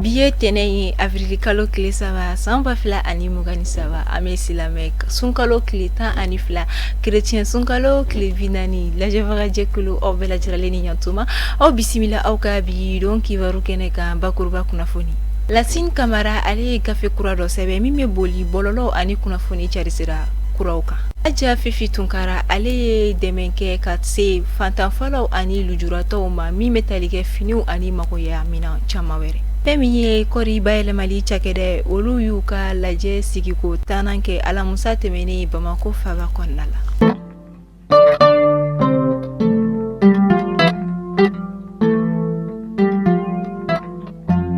Bi ye tɛnɛn ye awirili kalo tile saba san ba fila ani mugan ni saba an bɛ silamɛ sunkalo tile tan ani fila kerecɛn sunkalo tile bi naani lajɛbagajɛkulu aw bɛɛ lajɛrɛlen ni ɲɔgɔntuma aw bisimila aw ka bi don kibaru kɛnɛ kan bakuruba kunnafoni lasini kamara ale ye gafe kura dɔ sɛbɛn min bɛ boli bɔlɔlɔ ani kunnafoni cari sira kuraw kan Aja fifi tunkara ale ye dɛmɛ kɛ ka se fantanfalaw ani lujuratɔw ma min bɛ tali kɛ finiw ani magoɲɛ minɛn caman wɛrɛ fɛn min ye kɔɔri bayɛlɛmali cakɛda ye olu y'u ka lajɛ sigiko tannan kɛ alamisa tɛmɛnen bamakɔ faba kɔnɔna la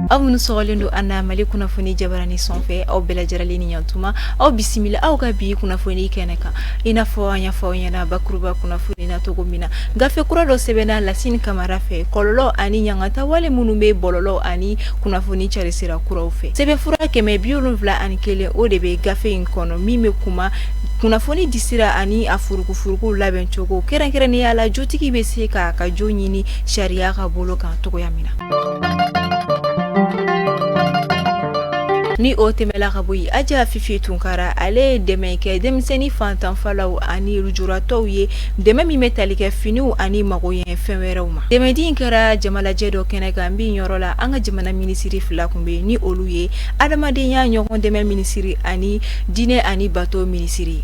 aw minnu sɔgɔlen don an na mali kunnafoni jabarani sɔnfɛ aw bɛɛ lajɛrɛlen ni ɲɔgɔntuma aw bisimila aw ka bi kunnafoni kɛnɛ kan i n'a fɔ an y'a fɔ aw ɲɛna bakuruba kunnafoni na cogo min na gafe kura dɔ sɛbɛnna lasini kamara fɛ kɔlɔlɔ ani ɲangata wale minnu bɛ bɔlɔlɔ ani kunnafoni cari sira kuraw fɛ sɛbɛnfura kɛmɛ bi wolonwula ani kelen o de bɛ gafe in kɔnɔ min bɛ kuma kunnafoni disira ani a furukufuruku labɛncogo kɛrɛnkɛrɛnnenya la jotigi bɛ se k'a ka jo ɲini sariya ka bolo kan cogoya min na Ni o tɛmɛla ka bɔ yen aja fifi tunkara ale ye dɛmɛ kɛ denmisɛnnin fantanfalaw ani lujuratɔw ye dɛmɛ min bɛ tali kɛ finiw ani magoɲɛ fɛn wɛrɛw ma dɛmɛ di in kɛra jamalajɛ dɔ kɛnɛ kan min yɔrɔ la an ka jamana minisiri fila tun bɛ ni olu ye adamadenya ɲɔgɔn dɛmɛ minisiri ani diinɛ ani bato minisiri ye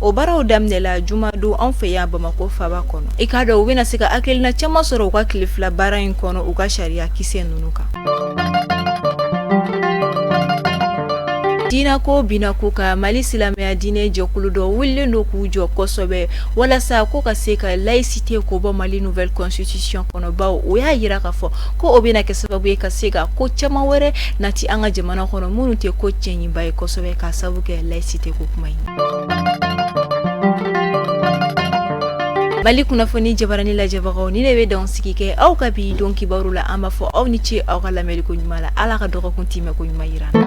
o baaraw daminɛla juma don an fɛ yan bamakɔ faba kɔnɔ i k'a dɔn u bɛna na se ka hakilina caman sɔrɔ u ka tile fila baara in kɔnɔ u ka sariya kisɛ ninnu kan diinɛ ko bɛna ko ka mali silamɛya diinɛ jɛkulu dɔw wulilen don k'u jɔ kosɛbɛ walasa ko ka se ka layisite ko bɔ mali nouvelle constitution kɔnɔ bawo o y'a jira ka fɔ ko o bɛna kɛ sababu ye ka se ka ko caman wɛrɛ nati an ka jamana kɔnɔ minnu tɛ ko cɛɲiba ye kosɛbɛ ka sababu kɛ layisite ko kuma ye Mali kunnafoni jabarani lajɛbagaw nin de bɛ dan sigi kɛ aw ka bi don kibaru la an b'a fɔ aw ni ce aw ka lamɛnni ko ɲuman la ala ka dɔgɔkun tɛmɛ ko ɲuman jira an na